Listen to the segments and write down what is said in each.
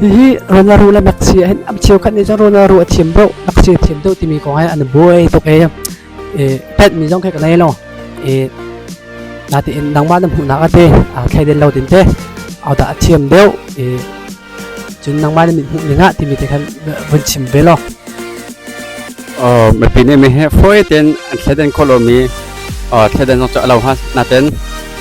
Hihi Ronaldo le Messi hin am cheukhat nih cun Ronaldo a thiam bro Messi a thiam deuh timi kong he an buai tuk e pet mi zong khe ka nei lo e na ti in nangmah na hmuhnak a te a thleiden lo din te au da a thiam deuh e cun nangmah na mit hmuh ning ah timi te khan vun chim ve lo ờ mà pin em he phôi ten anh thlet den kholomi ờ thlet den nok cha lo ha na ten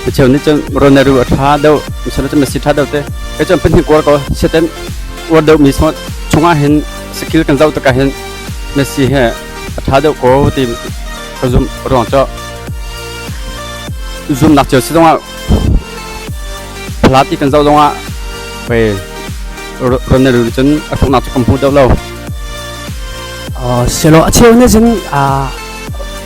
Micheu nih cun roneru a ṭha deuh, misal cu mesi ṭha deuh te. Kei cu pahnih kuar ko seten uar deuh mi sawt chungah hin skill kan zoh tikah hin Messi he a ṭha deuh ko ti kan zumh ruang cu zumnak cio si zongah phalati kan zoh zongah pei ronelu nih cun a hruknak cu kan hmu deuh lo. Selo a cheu nih cun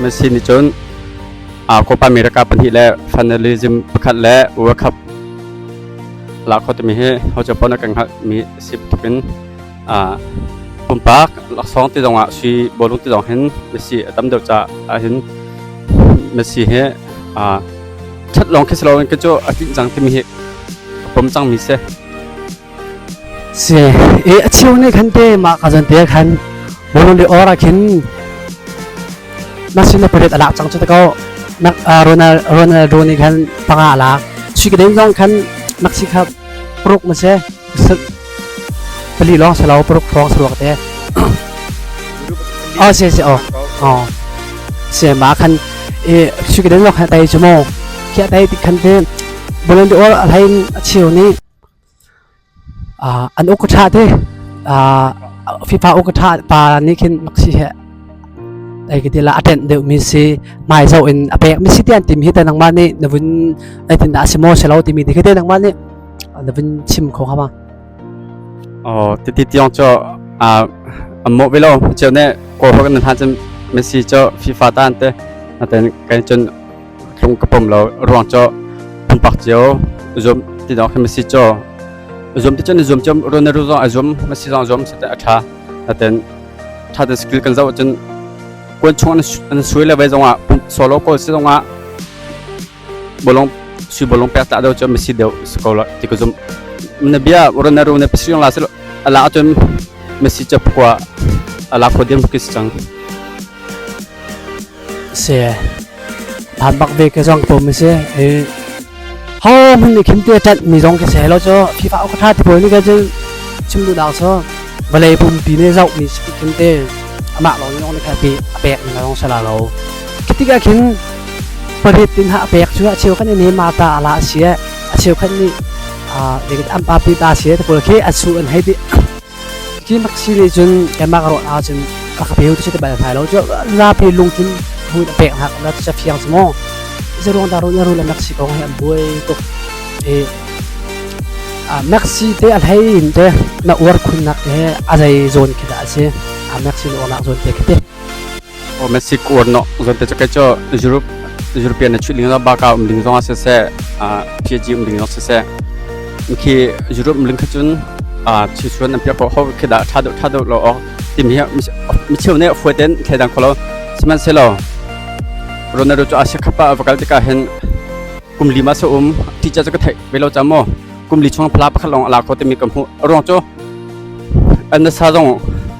Messi nih cun Copa America pahnih le Federalism pakhat le World Cup la kho timi hi hoca pon kan hngalh mi si tuk in pumpak laksawng ti zong ah sui bolung ti zong hin Messi a tam deuh ca ah hin Messi hi that lawng khi si loin ke cu a tlinh cang timi hi pom cang mi si. Si e a chiu ne khan te ma ka zan te khan run ri ora khin na sin na pret alak chang chu ta ko nak Ronald Ronald Rooney khan panga alak shi ke den zong khan nak si kha pruk ma se pali long se lo pruk phong se te o se se o o se ma khan e shi ke den zong khan tai chu mo kia tai tik khan te bolen de or alain a chiu ni An uk a ṭha te. Fifa uk a ṭha pa nih khin Maxi hi ei ka ti la a ṭenh deuhmi si, hmai zoh in a pekmi si tiah an timi hi te nangmah nih na vun eitindah a si maw si lo timi ti khi te nangmah nih na vun chim kho hnga ma? Oh, titi tiong cu an mawh ve lo. Ceu ne Kawl hogan nan ha cun Messi cu FIFA ta an te. Natein kai cun lung ka pom lo ruang cho pumpak cio zum ti dong khan masi cho zum ti chon zum chom ron ru zong azum masi zong zum sate atha taten tha tan skill kan zo chon kun chung an suy le vai zongah solo ko si zongah bolong su bolong pe ta do chon masi deu sko lo ti ko zum na bia ron ru ne pisriong la sel ala atum masi chap kwa ala ko dem kis chang si phan bak ve ke zong pom si ho mun ni khim te tat mi zong ke se lo cho khi fa ka tha ti poi ni ka jin chim du dang so vale pum pi ne zau mi khim te ama lo ni ong ka pi pek ni long sala lo kitika khin parit tin ha pek chu a cheu kan ni ma ta ala sia a cheu kan ni a ve am pa pi ta sia te pol khi a su an hai di Cuti bak si nih cun kanmah ka ruah ahcun ka ka peu cu ti bal hnai lo cu zapi lung cun hmuin a pek hna na ca fiang cu maw iza ruang dah ru na ru le naksi kong hi an buai tuk i ah naksi te a hlei in te na uar khunnak te he a zei zawn khi dah a si a naksi na uarnak zawn te khi ti o mesik uar no zon te ke cho europe european na chu ling la ba ka um ling zonga se se a pg um ling no se se khi europe ling khachun a chi chuan am pya po ho khi da tha do tha do lo o tim hi mi chiu ne fwe ten khe dang kholo siman se lo ronaldo cho ashe khapa vakal te ka hen kumli ma so um teacher cho ka thai velo chamo kumli chung phla pakhalong ala ko te mi kam hu rong cho anna sa zong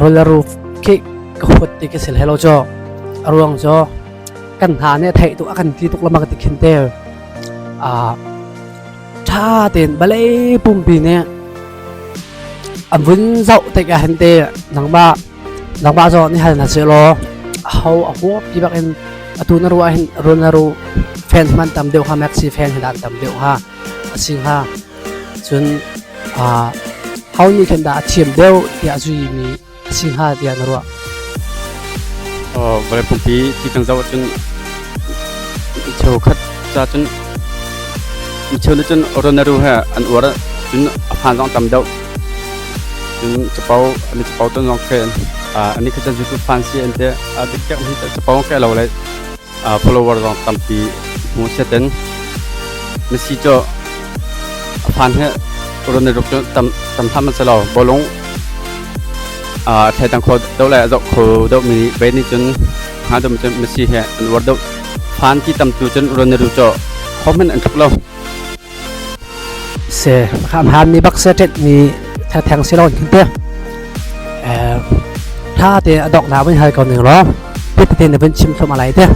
rul a ru khi ka huat ti ka si hlei lo caw a ruang cu kan hna nih a theih tuk a kan ti tuk lamang ti khin te a ṭha tein balei pumpi nih an vun zoh tik ah hin te nangmah nangmah zaw ni hal na se law a ho a huo pi bak in atu na ru ah hin run na ru fan man tam deuh ha mek si fan hin dan tam deuh ha a si hnga Cun ho nih khin dah a thiam deuh tiah zuimi a si hnga tiah na ruah? Vawlei pumpi ti peng zoh ahcun cheukhat ca cun micheu nih cun roneru he an uar cun a hmaan zong tam deuh. Cun capo an i capo ton zong khin an nih kha cun zutu fansi an ti. A dikdek mi hi capo ke lo le follower zong tampi hmu setin na si cu a phan he ron na ruk cu tam tam tham an se lo bolung a thai tang kho do lai azok kho do mi be ni chun ha dum chun ma si he an war do phan ti tam tu chun ron na ru cho khomen an thuk lo se hramhranmi bak se ṭetmi thengtheng si lo hin te ṭha te a dok na vun hal ko ning law pit te na vun chim thum alai te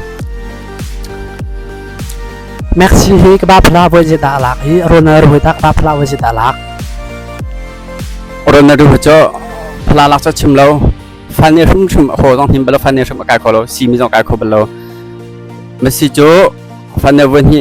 Maxi hi ka ba phla voi je da lak i Ronald ru tak ba phla voi je da lak Ronald ru cho phla lak cha chim lo fan ne hrum hrum ho dong him balo fan ne hrum kai ko lo si mi dong kai kho balo masi cho fan ne voi hi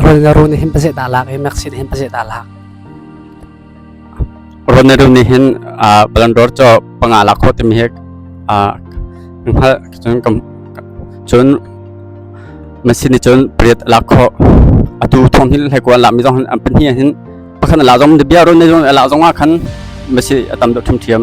Ron nih hin pazeh ta lak i Maxi nih hin pazeh ta lak. Ron nih rim nih hin Balandor cho panga lak kho timi hi hngal cun cun Maxi nih cun pariat lak kho atu thong hin hlai kuan la mi zong an pan hi hin pakhan la zong bia ron nei zong la zong a khan Maxi a tam deuh ṭhim ṭhiam.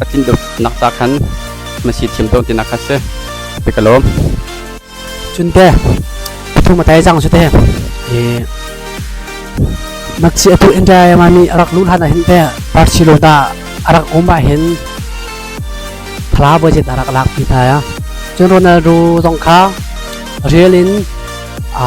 a tlin deuhnak ca khan na si thiam tawn tinak kha si te ka lawm cun te pathum a tai jang su te e makci apu entrai ma mi arak lu hlan hin te barcelona da arak umba hin thla budget arak lak pi tha ya cun ronaldo zong kha real in a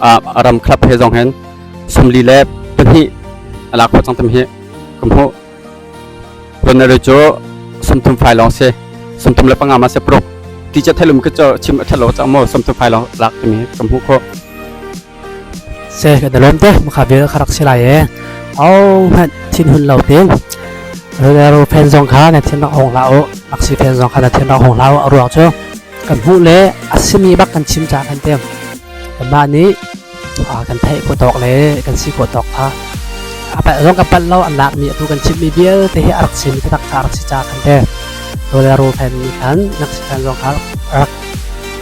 a ram club he zong hin samli le pahnih a lak khawh cang tam hi ka hmuh Ronaldo cu samthum fai long se samthum le panga ma se pro ti cha thelum ke cho chim thalo cha mo samthum fai long lak timi ka hmu kho se ka dalon te mukha vel kharak silai e au han thin hun lo ting Ronaldo fan zong kha na thin rak hong la o aksi fan zong kha na thin rak hong la o ruang chu kan hmu le asimi bak kan chim cha kan tem Mah nih kan theih khawh tawk le kan si khawh tawk kha zong kan palh lo an lakmi atu kan chimmi vialte hi a rak chim tatak kha a rak si ca kan te rawl le ruhphen nih khan nak si khan zong kha rak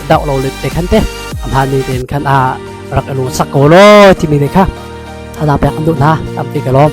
doh lo le te khan te a hmaan ning tein khan a rak i lung sak ko law timi ne kha ana pek an duh hna am ti ka lawm